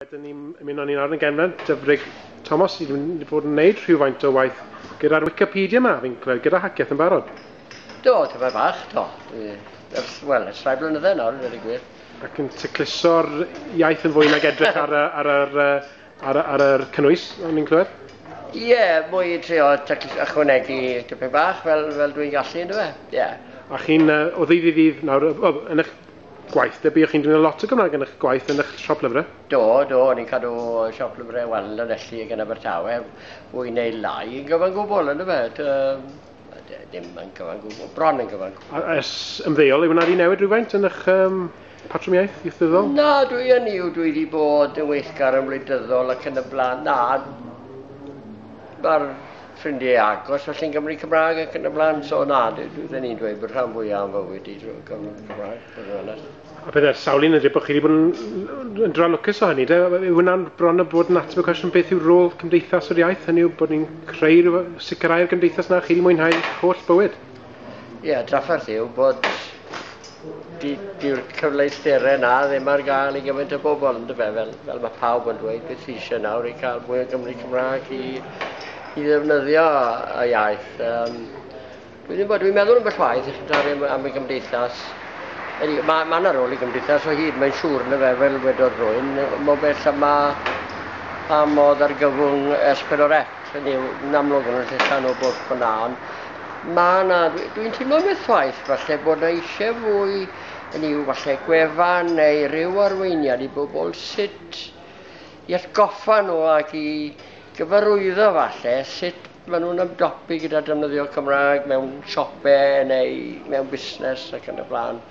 Wedyn ni ymuno ni'n ar yn genfen, Dyfrig Thomas, i wedi bod yn gwneud rhywfaint o waith gyda'r Wikipedia yma, fi'n clywed, gyda Haceth yn barod. Do, tyfa fach, do. Wel, ers rhai blynydde nawr, wedi gwir. Ac yn tecluso'r iaith yn fwy nag edrych ar, ar, ar, ar, ar, ar y cynnwys, o'n i'n clywed? Ie, yeah, mwy i trio ychwanegu tipyn bach fel, fel dwi'n gallu, ynddo fe? Ie. Yeah. A chi'n uh, o ddydd i ddydd nawr, o, yn eich Gwaith, neu buoch chi'n defnyddio lot o Gymraeg yn eich gwaith yn eich siop lyfrau? Do, do, o'n i'n cadw siop lyfrau wan yn Lanelli ag yn Abertawe, fwy neu lai yn gyfan gwbl, ynddo fe? Dim yn gyfan gwbl, bron yn gyfan gwbl. A ers ymddeol, yw yna wedi newid rhywfaint yn eich um, patrwm iaith ieithyddol? Na, dwi yn yw, dwi wedi bod yn weithgar yn wleidyddol ac yn y blaen. Na, mae'r ffrindiau agos felly yn Gymru Cymraeg ac yn y blaen, so na, dwi ni'n dweud bod rhan fwyaf am fywyd i drwy Gymru Cymraeg, bod yn onest. A bydd e'r sawl un yn dweud bod chi wedi bod yn, yn dra lwcus o hynny, de? Yw hwnna'n bron o bod yn ateb y cwestiwn beth yw'r rôl cymdeithas o'r iaith, hynny yw bod ni'n creu rhyw sicrhau'r gymdeithas na chi wedi mwynhau holl bywyd? Ie, yeah, drafferth yw bod dyw'r cyfleusterau yna ddim ar gael i gymaint o bobl, yn dyfa, fel, fel mae pawb yn dweud, beth sy'n eisiau nawr i cael mwy o Gymru Cymraeg i, i ddefnyddio y iaith. Um, dwi ddim bod, dwi'n meddwl yn bellwaith, eich dari am, am y gymdeithas. Mae ma, ma yna rôl i gymdeithas o hyd, mae'n siŵr yn y fe, fel wedodd rwy'n, mo bell yma pa modd ar gyfwng S4C. Hynny yw, yn amlwg yn y rhan o bwrdd fyna, ond mae yna, dwi'n teimlo metwaith, falle bod yna eisiau fwy yn i'w falle gwefan neu ryw arweiniad i bobl sut i atgoffa nhw ac i gyfarwyddo falle sut maen nhw'n ymdopi gyda defnyddio Cymraeg mewn siopau neu mewn busnes ac yn y blaen.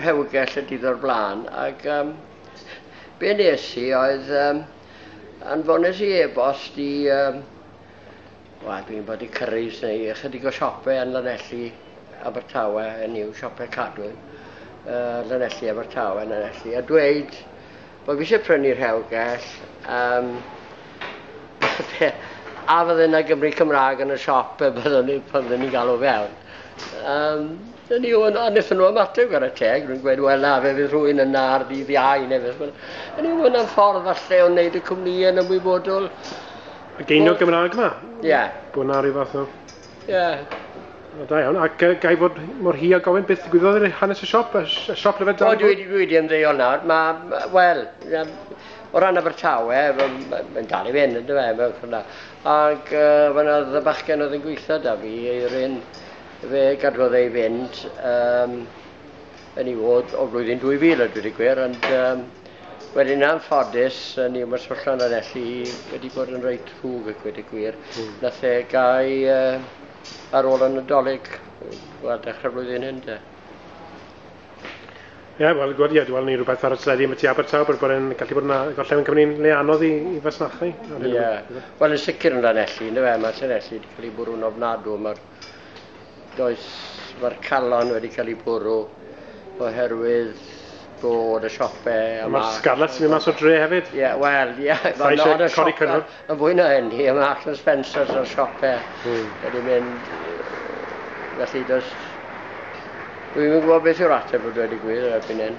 rhewgell y dydd o'r blaen ac um, be nes i oedd um, anfones i e-bost i um, Wel, dwi'n bod i Cyrraes neu ychydig o siopau yn Lanelli, Abertawe, yn yw siopau Cadwyn, uh, Lanelli, Abertawe, Lanelli, a dweud Wel fi eisiau prynu rhewgell, yym a fydde 'na Gymry Cymrâg yn y siop pe byddwn ni pan fydden ni'n galw fewn. Yym dyna ni ond a nethon nhw ymateb ar y teg, rwy'n gweud wel na fe fydd rhywun yna ar ddydd Iau neu beth bynnag. Hynny yw ma' hwnna'n ffordd falle o wneud y cwmnïau'n ymwybodol. Y geiniog Gymraeg 'ma? Ie. Bod 'na ryw fath o Ie. Wel da iawn, ac uh, gai fod mor hi a gofyn beth ddigwyddodd i'r hanes y siop, y siop lyfed dan? O, dwi, dwi wedi ymddeol nawr, mae, wel, o ran Abertawe, mae'n dal i fynd, ynddo fe, mewn ffordd na. Ac uh, fyna oedd y bachgen oedd yn gweithio da fi, Eirin, fe gadwodd ei fynd, um, yn ei fod o flwyddyn 2000 a dwi gwir, ond um, wedyn yn anffodus, ni yma syllan ar elli wedi bod yn reit rhwg ac wedi gwir. Mm. Nath e gau uh, ar ôl yn y dolyg, wel, dechrau flwyddyn hyn de. Ie, yeah, wel, gwrdd, ie, dwi'n ni rhywbeth ar y teledu am y tu Abertaw, bod yn gallu bod yna gorllewin Cymru'n le anodd i, i fasnachu. Ie, yeah. wel, yn sicr yn dan elli, ynddo fe, mae Llanelli wedi cael ei bwrw'n ofnadw, mae'r does, mae'r calon wedi cael ei bwrw oherwydd bod y siope yma... Mae'r scarlet sy'n mynd mas o dre hefyd. Ie, yeah, wel, ie. Yeah, Sa eisiau codi siope, cynnwr? Yn fwy na hyn, i yma Axel Spencer's o'r siope. Mm. Wedi mynd... Felly, does... Dwi'n gwybod beth yw'r ateb o dweud y gwir erbyn hyn.